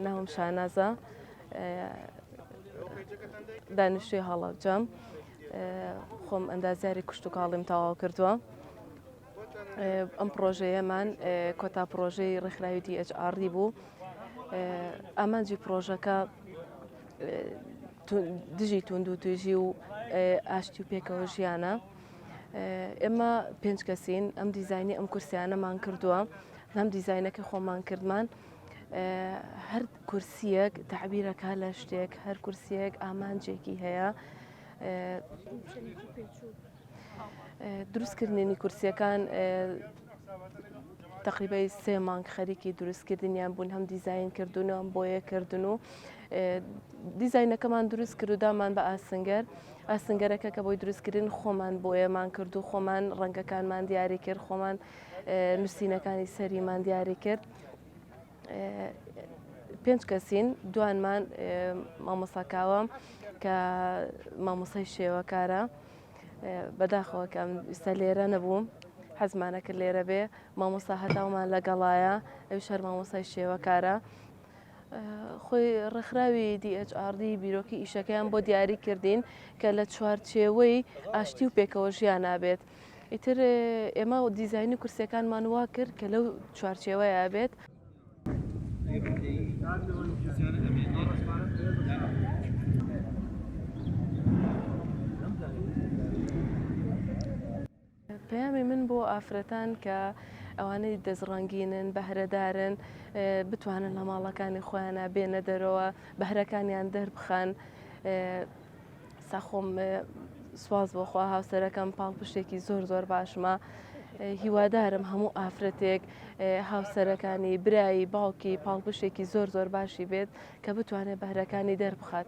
ناوم شانازە دانیشتوی هەڵەبجەم خۆم ئەندازیاری کوشت و کاڵیم تەواو کردووە ئەم پرۆژەیەمان کۆتا پرۆژەی ڕێکخراوی DHR بوو ئامانجی پرۆژەکە دژی توند و توێژی و ئاشتی و پێکەوە ژیانە ئێمە پێنج کەسین ئەم دیزایانی ئەم کورسیانەمان کردووە هەم دیزایینەکە خۆمان کردمان هەر کورسیەک تعبیرەکە لە شتێک هەر کورسیەک ئامانجێکی هەیە دروستکردنی کورسیەکان تقریبای سێ مانگ خەریکی دروستکردنیان بوون هەم دیزین کردوونەوەم بۆیە کردن و دیزینەکەمان دروست کرد و دامان بە ئاسنگەر ئاسنگەرەکە کە بۆی دروست کرین خۆمان بۆیەمان کرد و خۆمان ڕەنگەکانمان دیاری کرد خۆمان نووسینەکانی سەریمان دیاری کرد پێنج کەسین دوانمان مامۆساکاوە کە مامۆسای شێوەکارە بەداخەوە کە ئستا لێرە نەبووم حەزمانەکە لێرە بێ مامۆسا هەتاومان لەگەڵایە ئەو شەر مامۆسای شێوەکارە خۆی ڕێکخراوی DHRD بیرۆکی ئیشەکەیان بۆ دیاری کردین کە لە چوارچێوەی ئاشتی و پێکەوە ژیانە بێت. ئیتر ئێمە و دیزایانی کورسەکانمان وا کرد کە لەو چوارچێوەیە بێت. پەیامی من بۆ ئافرەتان کە ئەوانەی دەست ڕەنگینن بەهرەدارن بتوانن لە ماڵەکانی خۆیانە بێنە دەرەوە بەهرەکانیان دەربخەن ساخۆم سواز بۆخوا هاوسەرەکەم پاڵپشتێکی زۆر زۆر باشمە هیوادارم هەموو ئافرەتێک هاوسەرەکانی برایی باوکی پاڵپشتێکی زۆر زۆر باشی بێت کە بتوانێت بەهرەکانی دەربخات.